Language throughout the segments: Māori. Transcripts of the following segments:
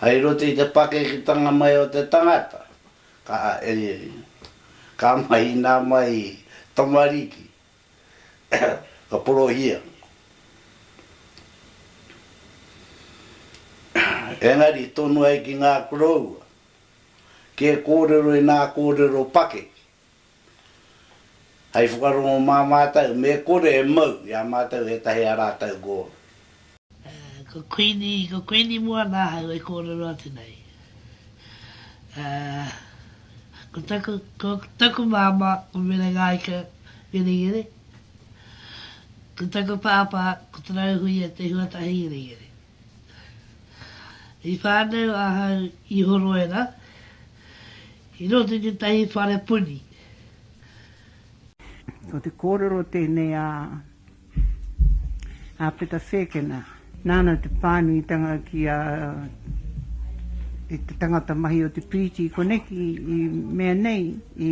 Hei roto i te pakeketanga mai o te tangata, ka ka mai ina mai tamariki, ka porohia. Engari tonu ai ki nga koroua, ke korero ina korero pakeke, Hei whakarongo mā mātou me kore e mau i a mātou ētahi a rātou gōna. Ko Kuini, ko Kuini mua nāhau e kōrero atu nei. Ko taku, ko taku māmā, ko Merengaika Ngerengere. Ko taku pāpā, ko Tarauhuia Te Huatahi Ngerengere. I whānau ahau i Horoera, i roto i tētahi whare puni. Ko te kōrero tēnei a Peta Whēkena. Nāna te pānuitanga ki a te tangata mahi o te piriti koneki i mea nei i.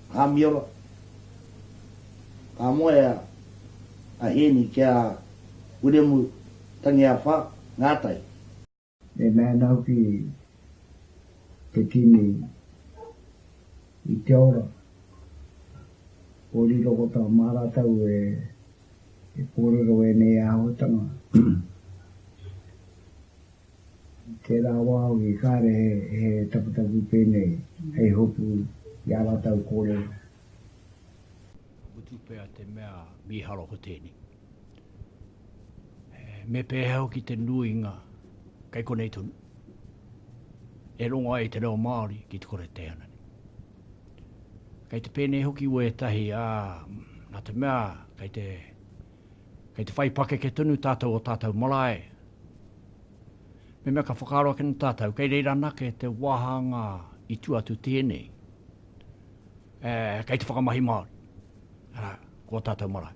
Ka miora. Ka moea a Hēni ki a Wiremu Tangiawha Ngātai. He mena hoki te kimi i te ora o riro ko tā Māratau e kōrero ēnei āhuatanga. I tērā wā hoki kāre he taputapu pēnei hei hopu i ā rātou kōrero. Ka mutu pea te mea mīharo ko tēnei. Me pēhea hoki te nuinga kei konei tonu e rongo ai te reo Māori ki te kore teihana nei. Kei te pēnei hoki wētahi, ā, nā te mea kei te, kei te whai pakeke tonu tātou o tātou marae, Mehemea ka whakaaro ake nō tātou, kei reira anake te wāhanga i tua atu tēnei, kei te whakamahi Māori, arā, ko ō tātou marae.